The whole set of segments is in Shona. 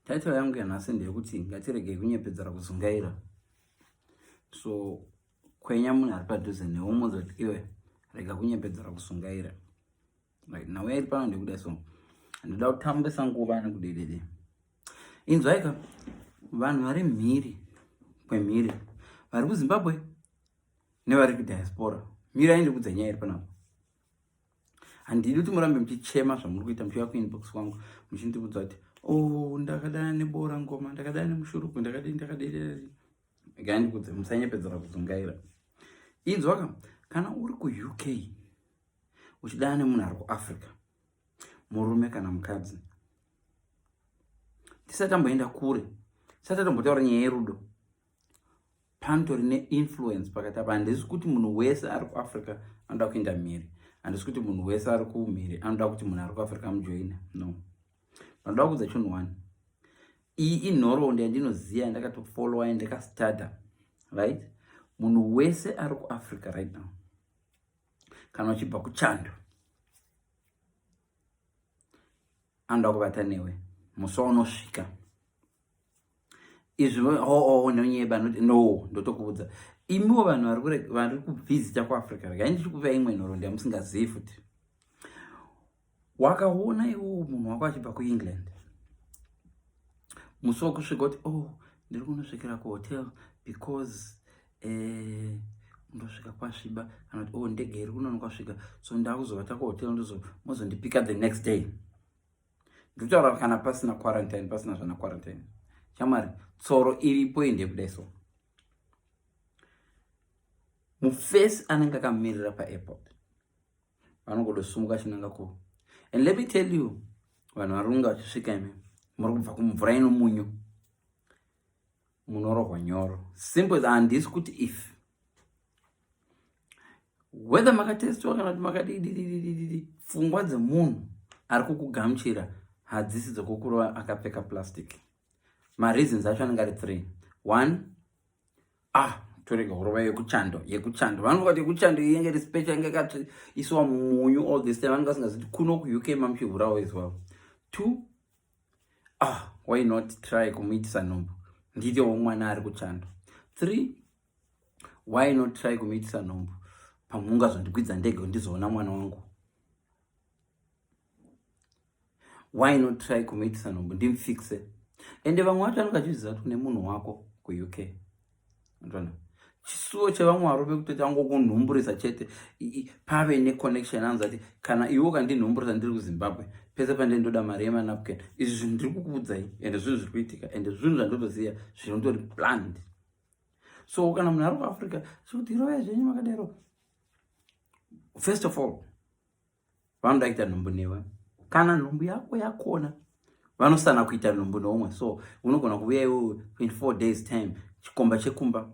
Title yangu yanhasi ndeyekuti ngatiregei kunyepedzera kuzungaira. So kwenya munhu ari padhuze newe umuzoti iwe rega kunyepedzera kusungaira. Right, nhau yairi pano ndekuda so ndoda kutambisa nguva nekudedede. Inzwaika vanhu vari mhiri kwemhiri vari kuzimbabwe nevari kudiaspora mhiri aindikudza nyaya iri panapo handidi kuti murambe muchichema zvamuri kuita muchiuya kuinbox kwangu muchindiudza kuti o oh, ndakadana nebora ngoma ndakadana nemushuruku ndakadii ndakadii gai ndikudze musanyepedzera kuzungaira inzwaka kana uri kuuk uchidana nemunhu ari kuafrica murume kana mukadzi tisati tamboenda kure tisati tambotaura nyaya yerudo panotori neinfluence pakati apa handisi kuti munhu wese ari kuafrica anoda kuenda mhiri handisi kuti munhu wese ari kumhiri anoda kuti munhu ari kuafrica mujoina no panoda kuudza chinhu one iyi inhoroondo yandinoziva yandakatofollowa yandikastada right munhu wese ari kuafrica right now kana uchibva kuchando anoda kuvata newe musi waunosvika izvi oo oh, oh, oh, nonyeba noti no ndotokuudza imiwo vanhu vari kubvizita kuafrica regai ndichikupa imwe nhoroondo yamusingazivi futi wakaona iwowo munhu wako achibva kuengland musi wokusvika kuti o oh, ndiri kunosvikira kuhotel because eh, ndosvika kwasviba kana kuti o oh, ndege iri kunonokwasvika so ndakuzovata kuhotel ndozomozondipika the next day ndikutaura kana pasina quarantine pasina zvana quarantine chamari tsoro iripo inde kudai so mufesi anenge akamirira paairport vanongodosumuka chinanga ku and let me tell you vanhu varunga vachisvika imi muri kubva kumvura ino munyu munorohwa nyoro simple handisi kuti if whether makatestiwa kana kuti makadidididididi pfungwa dzemunhu ari kukugamuchira hadzisi dzokukurova akapfeka plastic mareasons acho anenge ari three one ah torega kurova yekuchando yekuchando vanenge vati yekuchando iyenge iri special inge kati isiwa munyu all this time vanenge vasingaziti kuno kuuk mamuchihurawo izwavo two ah why not try kumuitisa nhumbu nditewo mwana ari kuchando three why not try kumuitisa nhombo pamwe ungazondikwidza ndege undizoona mwana wangu why not try kumuitisa nhombo ndimfixe ende vamwe vacho vanenge vachizviziva kuti une munhu wako kuuk ndona chisuwo chevamwe varume kuti tangokunhumburisa chete pave neconnection anzi ati kana iwe ukandinhumburisa ndiri kuzimbabwe pese pande ndoda mari yemanapken izvi zvinhu ndiri kukuudzai ende zvinhu zviri kuitika ende zvinhu zvandotoziva zvinotori planned so kana munhu ari kuafrica zvekuti irovai zvenyu makadero first of all vanoda kuita nhumbu newe kana nhumbu yako yakona vanosana kuita nhumbu neumwe so unogona kuuya iwe 24 days time chikomba chekumba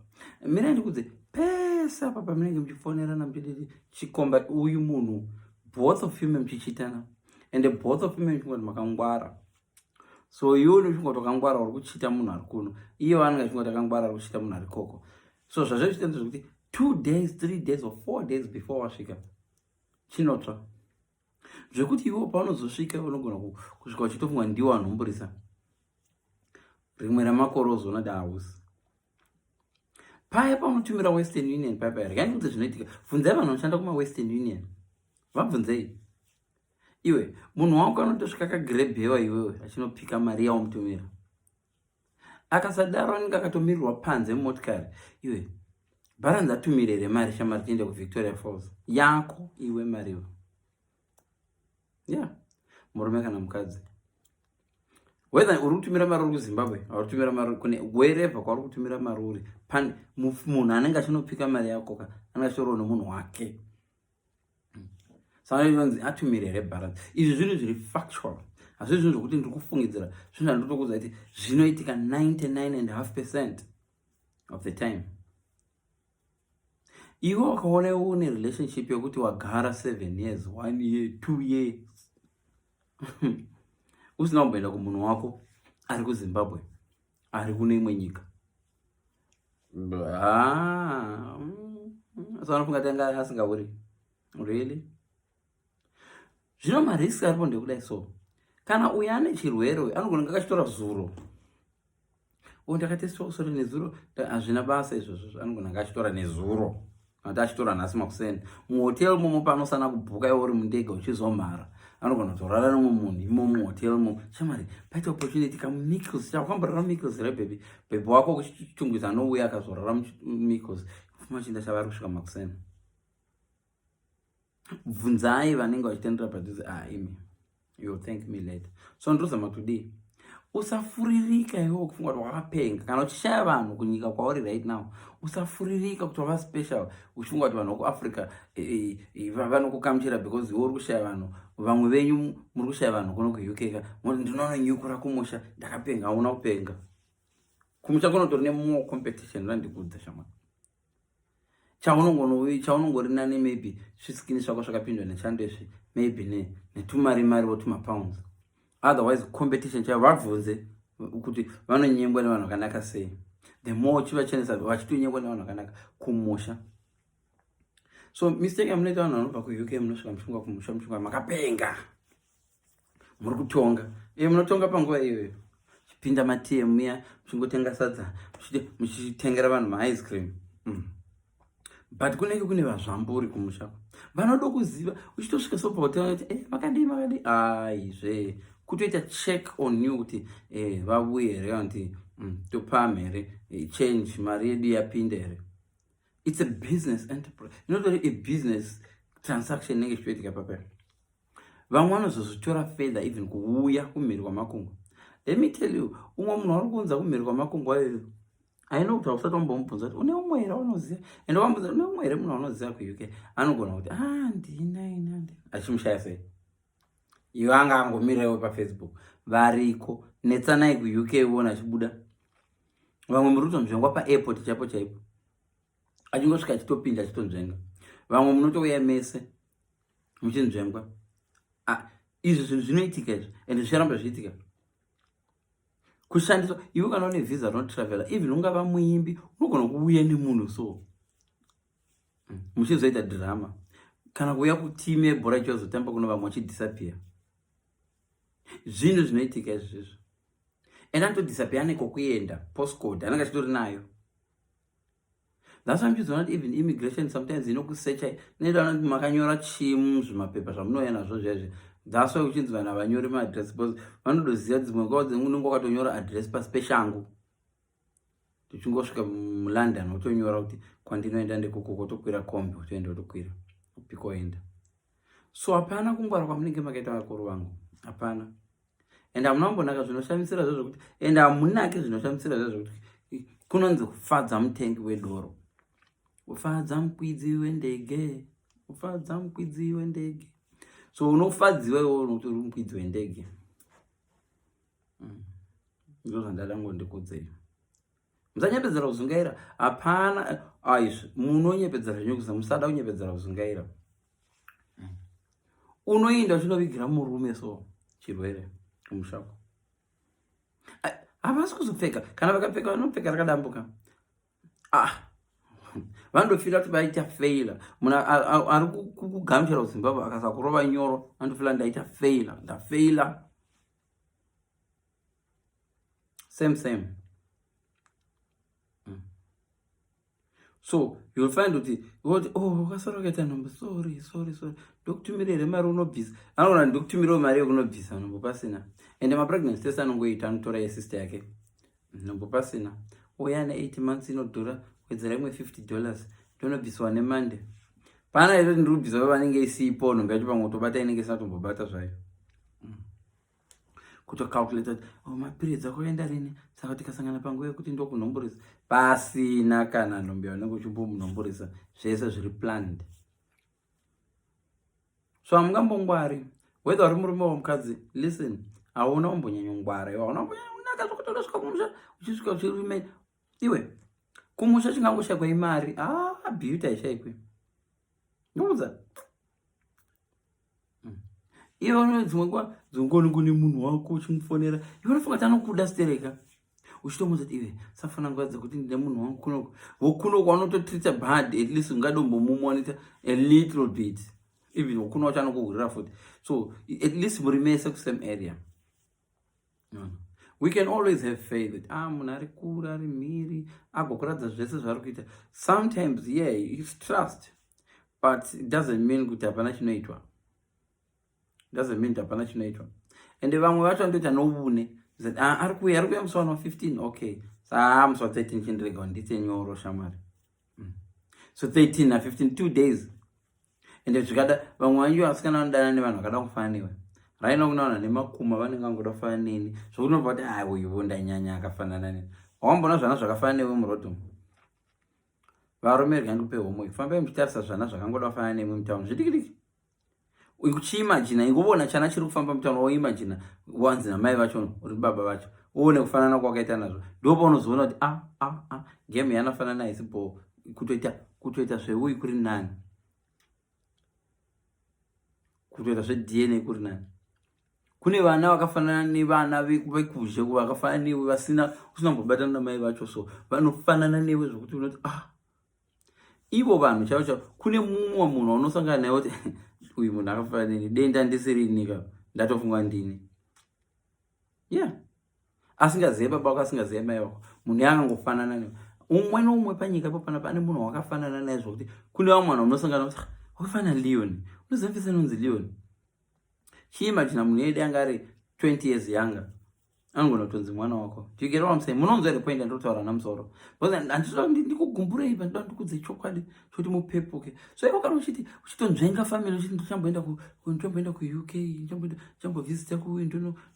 mira ndikudze pese apa pamunenge muchifonerana muchidii chikomba uyu munhu both of you memuchichitana and both of you memuchingoti makangwara so iwe unofunga kuti wakangwara uri kuchita munhu ari kuno iye vanenge achifunga kuti akangwara ari kuchita munhu ari koko so zvazve zvichita ndezvekuti two days three days or four days before wasvika chinotsva zvekuti iwe paunozosvika unogona kusvika uchitofunga ndiwo anhumburisa rimwe ramakore ozoona dahausi paya pamutumira western union paya paya rekai ndikuti zvinoitika bvunzai vanhu vanoshanda kumawestern union vabvunzei iwe munhu wako anotosvika kagrebhewa iwewe achinopika mari yaomutumira akasadaro anenge akatomirirwa panze mumotikari iwe bharanzi atumire here mari shamari tiende kuvictoria falls yako iwe mariwo ya yeah. murume kana mukadzi whether uri kutumira mari uri kuzimbabwe auri kutumira mari kune wherever kwauri kutumira mari uri munhu anenge achinopika mari yako ka anenge achitorwa nemunhu wake savanonzi atumire here balance izvi zvinhu zviri factual hazvi zvinhu zvokuti ndiri kufungidzira zvinhu zvandotokuudza kuti zvinoitika 99 and half percent of the time iwe wakaona iwe une relationship yokuti wagara seven years one year two year usina kumboenda kumunhu wako ari kuzimbabwe ari kune imwe nyika ah, mm, so anofunga tanga asingauri really zvino marisk aripo ndekudai so kana uyo ane chirwere uyo anogona kunge akachitora zuro o ndakatesitwa kusora nezuro hazvina basa izvozvo anogona kunge achitora nezuro ati achitora nhasi makuseni muhotel momo panosana kubhuka iwe uri mundege uchizomhara anogona kutorara nomwe munhu imo muhotel mo chamari paita opportunity kamicos chakwamborara micos here bhebhi bhebhi wako kuchitungwiza anouya akazorara micos fuma chinda chavari kusvika makuseni bvunzai vanenge vachitandira padhuze ah imi you'll thank me later so ndozama kutodii usafuririka iwewo kufunga kuti wakapenga kana uchishaya vanhu kunyika kwauri right now usafuririka kuti wava special uchifunga kuti vanhu vokuafrica eh, eh, vanokukamuchira because iwe uri kushaya vanhu vamwe venyu muri kushaya vanhu kuno kuuk ka moti ndinononyukura kumusha ndakapenga hauna kupenga kumusha kunotori nemoa competition vandikudza shamwari chaunongonovi chaunongori nani maybe svisikini svako svakapindwa nechando izvi maybe ne netumari mari wotuma pounds otherwise competition chaivo vabvunze kuti vanonyengwa nevanhu vakanaka sei the more chivachenesa vachitonyengwa nevanhu vakanaka kumusha so mistake amunoita vanhu vanobva kuuk munosvika muchunga kumusha muchunga makapenga muri kutonga iye munotonga panguva iyoyo chipinda matm muya muchingotenga sadza muchitengera vanhu maice cream mm. but kunenge kune vazvamburi kumusha vanoda kuziva uchitosvika so pahotel kuti eh, makadii makadii aizve kutoita check on you kuti eh, vavuye here kana kuti mm, topam here eh, change mari yedu yapinda here it's a business enterprise inotori a business transaction inenge ichitoitika papera vamwe vanozozvitora further even kuuya kumhiri kwamakungwa let me tell you umwe munhu wari kuunza kumhiri kwamakungwa iyoyo aina kuti hausati wambomubvunza kuti une umwe here waunoziva ende wambunza une umwe here munhu waunoziva kuuk anogona kuti handina ah, ini handina achimushaya sei iwe anga angomirirewo pafacebook variko netsanai kuuk uona achibuda vamwe muri kutonzvengwa paairport chaipo chaipo achingosvika achitonzvenga vamwe munotouya mese muchinzvengwa ah, izvi zvinhu zvinoitika izvi and zvicharamba zvichiitika kushandiswa iwe kana une visa rinotravela even ungava muimbi unogona kuuya nemunhu so hmm, muchizoita drama kana kuuya kutime yebhora ichozotamba kuno vamwe vachidhisapiya zvinhu zvinoitika izvizvo and anotodhisapiya anekokuenda postcode anenge achitori nayo That's why I'm just not even immigration sometimes inokusecha inoita kuti makanyora chimu zvimapepa zvamunouya nazvo zvezve that's why uchinzi vanhu havanyori maaddress because vanodoziva dzimwe nguva dzengu unenge wakatonyora address pasi peshangu tichingosvika mulondon wotonyora kuti kwandinoenda ndekuko kotokwira kombi wotoenda wotokwira upikoenda so hapana kungwara kwamunenge makaita vakuru vangu hapana and hamuna kumbonaka zvinoshamisira zvo zvekuti and hamunake zvinoshamisira zvo zvekuti kunonzi kufadza mutengi wedoro ufadza mukwidzi wendege ufadza mukwidzi wendege so unofadziwa iwo unokuti uri mukwidzi wendege mm. ndozvandada ngondikudzei musanyepedzera kuzungaira hapana aizvi munonyepedzera zvinyukusa musada kunyepedzera kuzungaira unoinda uchinovigira murume so chirwere kumushako havasi kuzopfeka kana vakapfeka vanopfeka rakadambuka ah vanotofira kuti vaita faila munhu ari kugamuchira kuzimbabwe akasakurova nyoro anotofira ndaita faila ndafeila same same mm. so youll find kuti woti o oh, wakasara ukaita nhombo sorry sorry sorry ndokutumira here mari unobvisa anoona ndokutumirawo mari yekunobvisa nhombo pasina ende mapregnancy tese anongoita anotora yesister yake nhombo pasina uya ne 8 months inodhura kuedzera imwe 50 dollars ndonobviswa nemande pana ito ndiri kubvisa vanenge isipo nhombo yacho pamwe utobata inenge isina tombobata zvayo kutocalculate kuti oh, mapiritsi akoenda rini saka tikasangana panguva yekuti ndokunomborisa pasina kana nhombe yaunenge uchimbomunomborisa zvese zviri planned so hamungambongwari whether uri murume wamukadzi listen hauna umbonyanyongwara iwe hauna umbonyanyakunaka zvekuti unosvika kumusha uchisvika uchirume iwe kumusha chingangoshakwa imari ah beauty haishaikwe ndokuudza mm. ivo dzimwe nguva dzongoni kune munhu wako uchimufonera ivo unofunga kuti anokuda stereka uchitomuudza kuti ive safana nguva dzekuti ndine munhu wangu kunoko vokuno kwanototrita bad at least ungadombomumonita a little bit even ukuna wacho anokuhurira futi so at least muri mese kusame area no, no. we can always have faith that ah munhu ari kura ari mhiri agokuratidza zvese zvaari kuita sometimes yeah its trust but it doesn't mean kuti hapana chinoitwa doesn't mean kuti hapana chinoitwa ende vamwe vacho vanotoita noune zati ah, ari kuuya ari kuuya musi wano 15 okay saa ah, musi wa 13 chindirega ndiite nyoro shamwari mm. so 13 na 15 two days ende zvikada vamwe vanyu vasikana vanodana nevanhu vakada kufana newe raina kunaona nemakuma vanenge vangoda kufana neni zvokunobva kuti ai uyuvo ndanyanya akafanana neni wamboona zvana zvakafana newe muroad umu varume rega ndikupe homwe fambai muchitarisa zvana zvakangoda kufana nemwe mutauni zvidikidiki uchiimajina inguvona chana chiri kufamba mutauni woimajina wanzi namai vacho uri baba vacho uone kufanana kwakaita nazvo ndipo unozoona kuti a ah, a ah, a ah, game yanafanana haisi bhoo kutoita kutoita zveuyi kuri nani kutoita zvedna kuri nani kune vana vakafanana nevana vekuzhe vakafanana newe vasina usina kumbobatana namai vacho so vanofanana newe zvokuti unoti ah ivo vanhu chavo chavo kune mumwe munhu waunosangana naye kuti uyu munhu akafanana neni denda ndisiri nika ndatofunga ndini yeah asingazive baba wako asingazive mai wako munhu yaangangofanana ne umwe noumwe panyika ipo panapa ane munhu wakafanana naye zvokuti kune vamwe vanhu vanosangana kuti wakafanana leoni unozivafisa inonzi leoni chiimajina munhu yedi anga ari 20 years yanga anogona kutonzi mwana wako tigerewamsei munonzwa here point andinotaura namusoro because anditoda kuti ndikugumbure ipa ndoda ndikudze chokwadi kuti mupepuke so ivo kana uchiti uchitonzvenga family uchiti ndichamboenda ndichamboenda kuuk ndichambovisita kuuyu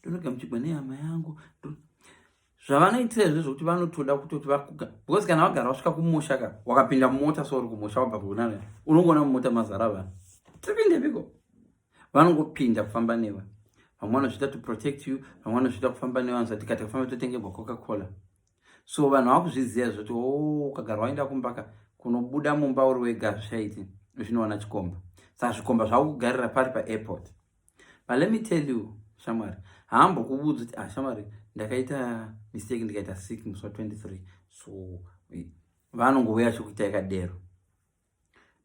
ndonogamuchigwa nehama yangu zvavanoitira izvo zvokuti vanotoda kutoti vakuga because kana vagara vasvika kumusha ka wakapinda mumota so uri kumusha wabva kuunana unongoona mumota mazara vanhu tipinde piko vanongopinda kufamba newa vamwe vanozviita to protect you vamwe vanozviita kufamba newa anzati kati kafamba totengerwa coca cola so vanhu vakuzviziva zvoti o oh, ukagara waenda kumbaka kunobuda mumba uri wega hazvichaiti zvinoona chikomba saa zvikomba zvakukugarira pari paairport but let me tell you shamwari hambo kuvudza kuti ah shamwari ndakaita mistake ndikaita sick musi wa 23 so vanongouya chikuita yakadero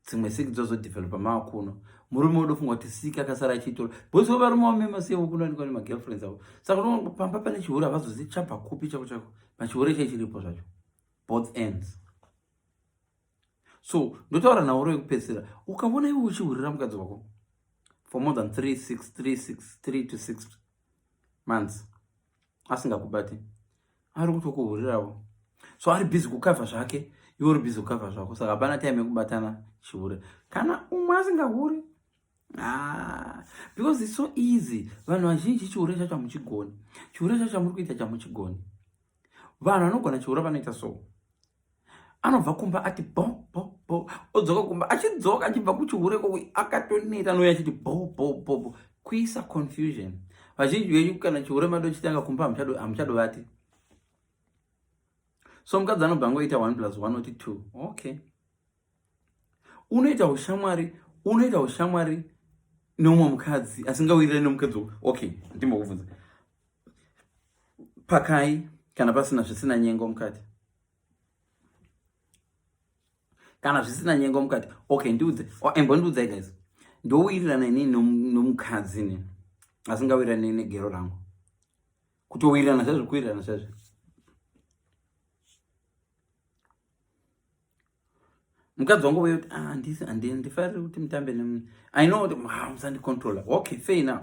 dzimwe siki dzozodevelopa maakuno murume udofunga kuti siki akasara achiitora bhozi wevarume wamema sevo kunowanikwa nemagirlfriends avo saka unoona pamba pane chihure havazozi chabva kupi chako chako machihure chai chiripo zvacho both ends so ndotaura nauro yekupedzisira ukaona iwe uchihurira mukadzi wako for more than 36 36 3 to 6 months asingakubati ari kutokuhurirawo so ari busy kukavha zvake iwe uri busy kukavha zvako saka hapana time yekubatana chihure kana umwe asingahuri ah, because its so easy vanhu vazhinji chihure chacho hamuchigoni chihure chacho chamuri kuita chamuchigoni vanhu vanogona chihure vanoita so anobva kumba ati bho bho bho odzoka kumba achidzoka achibva kuchihure ko akatoneta nouya achiti bho bho bho bho kuisa confusion vazhinji venyu kana chihure mado chitanga kumba hamuchadovati so mukadzi anobva ngoita one plus one oti two okay unoita ushamwari unoita ushamwari neumwe mukadzi asingawirirani nemukadzi okay ndimbokubvunza pakai kana pasina zvisina nyengo mukati kana zvisina nyengo mukati okay ndiudze oh, imbondiudzai guys ndowirirana inini nomukadzi ne asingawirirani negero rangu kutowirirana zvezvo kuwirirana zvezvo mukadzi wangu vayoti ah, andifariri kuti mutambe nemune i know kuti ah, musandicontrola okay fair enough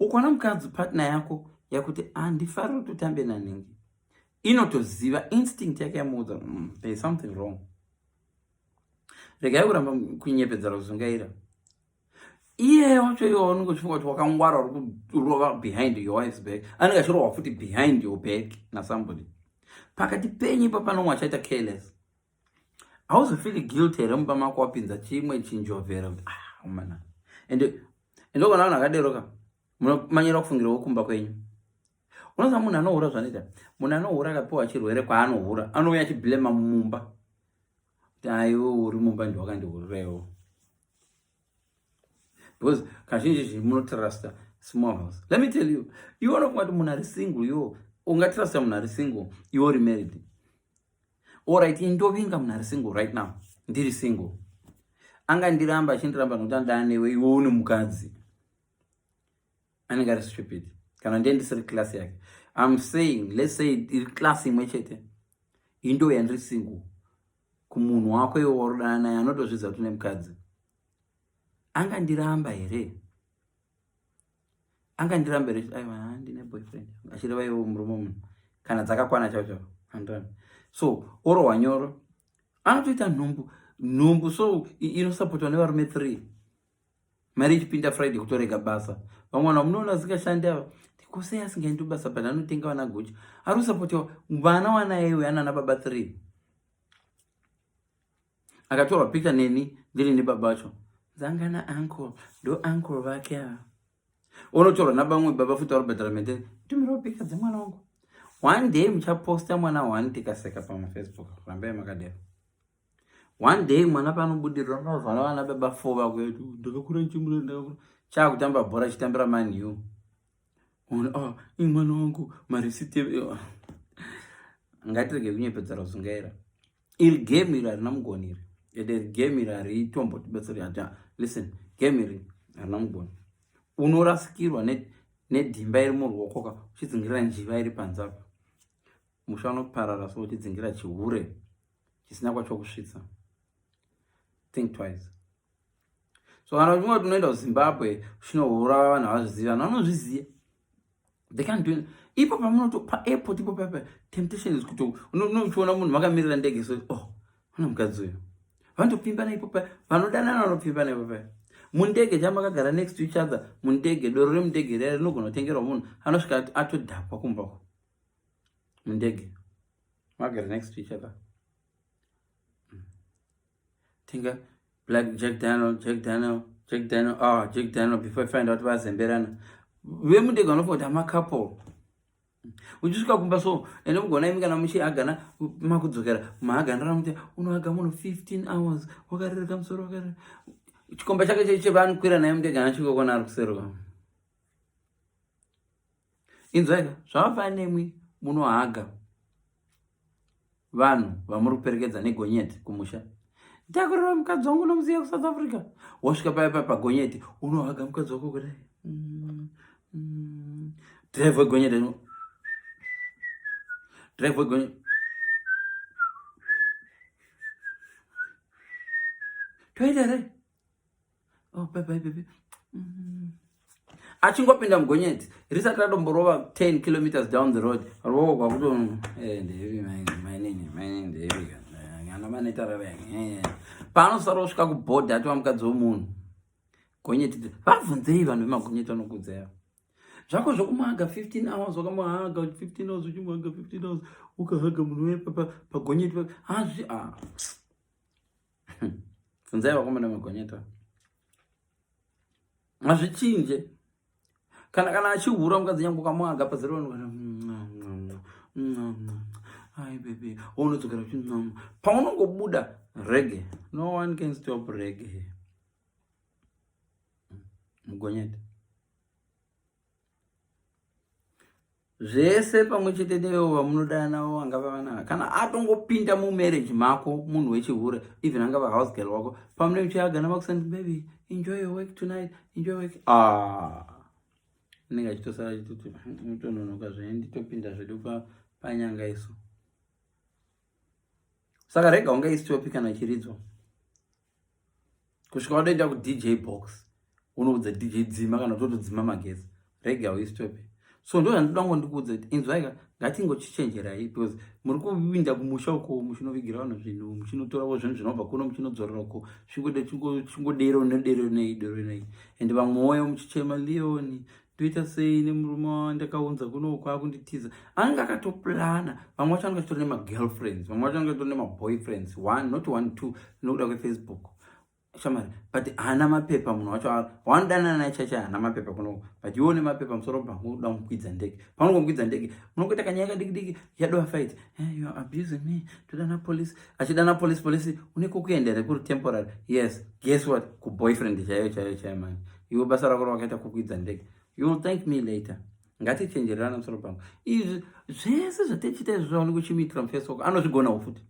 ukaona mukadzi partner yako yakuti andifariri ah, kuti utambe nanhingi inotoziva instinct yake yamuudza mm, there is something wrong regai kuramba kunyepedzera kuzungaira iyeyo wacho iwe waunenge uchifunga kuti wakangwara uri kurova behind your wife's back anenge achirova futi behind your back nasomebody pakati penyu ipa panomwe achaita careless hauzofili guilt here mumba mako wapinza chimwe chinjovhera kuti ah umana and ndokona vanhu akadero ka munomanyira kufungira wokumba kwenyu unoziva munhu anohura zvanoita munhu anohura akapiwa chirwere kwaanohura anouya achiblema mumba taiwe uri mumba ndiwakandiurirewo because kazhinji zhinji munotrusta small house let me tell you iwe unofunga kuti munhu ari single yo ungatrusta munhu ari single iwe uri married orit ndovinga munhu ari single right now ndiri single angandiramba achindiramba nokuti andaa newe iwe une mukadzi anenge ari stupid kana ndiye ndisiri class yake im saying let's say iri class imwe chete indo yandiri single kumunhu wako iwe warodana naye anotozvidza kuti une mukadzi angandiramba here angandiramba here aiwa ndine boyfriend achireva iwo murume munhu kana dzakakwana chao chao andani so orohwa nyoro anotoita nhumbu nhumbu so inosapotwa nevarume three mari ichipinda friday kutorega basa vamwe vanhu vamunoona vasingashandi ava tikosei asingaendi basa but anotenga vana guchi ari kusapotiwa vana wanaiwe anana baba three akatorwa picture neni ndiri nebaba vacho dzanga na uncle ndo uncle vake ava onotorwa nabamwe baba futi vari kubhadhara mete tumirawo picture dzemwana wangu one day muchaposta mwana one tikaseka pamafacebook rambai makadero one day mwana panobudirira unozwana vana baba four vakuetu ndakakura ndichimura ndakakura chaakutamba bhora achitambira mani u ah, i mwana wangu marisite ngatirege kunyepedza rozungaira iri game iri harina mugoni iri ende iri game iri haritombo tibetseri ata listen game iri harina mugoni unorasikirwa nedhimba iri muruokoka uchidzingira njiva iri panzapa musha unoparara so uchidzingira chihure chisina kwacho kusvitsa think twice so kana uchinge kuti unoenda kuzimbabwe uchinohura vanhu havazvizivi vanhu vanozviziva they can't do ipo pamunoto paairport ipo papa temptation is kuti unochiona munhu vakamirira ndege so oh vana mukadzi uyo vanotopfimbana ipo paya vanodanana vanopfimbana ipo paya mundege chamakagara next to each other mundege doro remundege riya rinogona kutengerwa munhu anosvika atodhakwa kumbako mundege magara next to each other mm. tinga black jack daniel jack daniel jack daniel ah jack daniel before find out vazemberana vemudega vanofunga kuti amacouple uchisvika kumba so ende mugona imi kana muchi agana makudzokera maaganira muti unoaga munhu 15 hours wakarereka musoro wakarere chikomba chake chaicho chevaanokwira naye mudega anachikokona ari kuseruka inzwaika zvamafana nemwi munohaga vanhu vamuri kuperekedza negonyeti kumusha takurira mukadzi wangu unomuziva kusouth africa wasvika paya paya pagonyeti unohaga mukadzi wako kudai mm, mm. drive wegonyeti drive wegonyeti toita here oh, bye bye baby mm -hmm. achingopinda mugonyeti risati ratomborova 10 kilometers down the road roo kwakuto eh, ndevi mainini mainini ndevi kana vanoita rava eh. paanosara osvika kubhodhi atova mukadzi wemunhu gonyeti vabvunzei vanhu vemagonyeti vanokudzaya zvako zvokumwaga 15 hours wakamwaga 15 hours uchimwaga 15 hours ukahaga munhu wepapa pagonyeti hazvi ah. funzai vakomana magonyeta mazvichinje kana kana achihura mukadzi nyange ukamwaga pazero ai bebe waunodzokera uchi paunongobuda rege no one can stop rege mugonyeta zvese pamwe chete newewo vamunodana wo angava vanana kana atongopinda mumarriage mako munhu wechihure even angava house girl wako pamune muchiagana vakusani baby enjoy your work tonight enjoy work ah anenge achitosara chitoti mutononoka zvee nditopinda zvedu panyanga isu saka rega ungaisitopi kana chiridzwa kusvika watoenda kudj box unoudza dj dzima kana totodzima magezi rega uistope so ndo zvandoda ngo ndikuudza kuti inzwaika ngatingochichenjerai because muri kuvinda kumusha uko muchinovigira vanhu zvinhu muchinotoravo zvinhu zvinobva kuno muchinodzorera uko chingodero nedero nei dero nei and vamwewo muchichema leoni toita sei nemurume wandakaunza kuno kwakunditiza anenge akatoplana vamwe vacho anenge achitori nemagirlfriends vamwe vacho anenge achitori nemaboyfriends one not one two nokuda kwefacebook shamari but haana mapepa munhu wacho waanodanana naye chaicho haana mapepa kunoko but iwo une mapepa musoro pangu uda mukwidza ndege pangu mukwidza ndege munongoita kanyaya kadikidiki yadova fight hey, eh, you are abusing me todana police achidana police police une kokuenda here kuri temporary yes guess what kuboyfriend chaiyo chaiyo chaiyo mani iwe basa rako rawakaita kukwidza ndege you will thank me later ngatichenjererana musoro pangu izvi zvese zvatichita izvi zvaoneka uchimuitira mufacebook anozvigonawo futi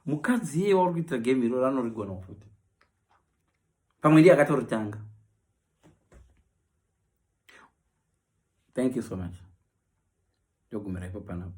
mukadzi iye wauri kuitira game iroro anorigonawo futi pamwe ndiye akatoritanga thank you so much ndogumira ipo panapo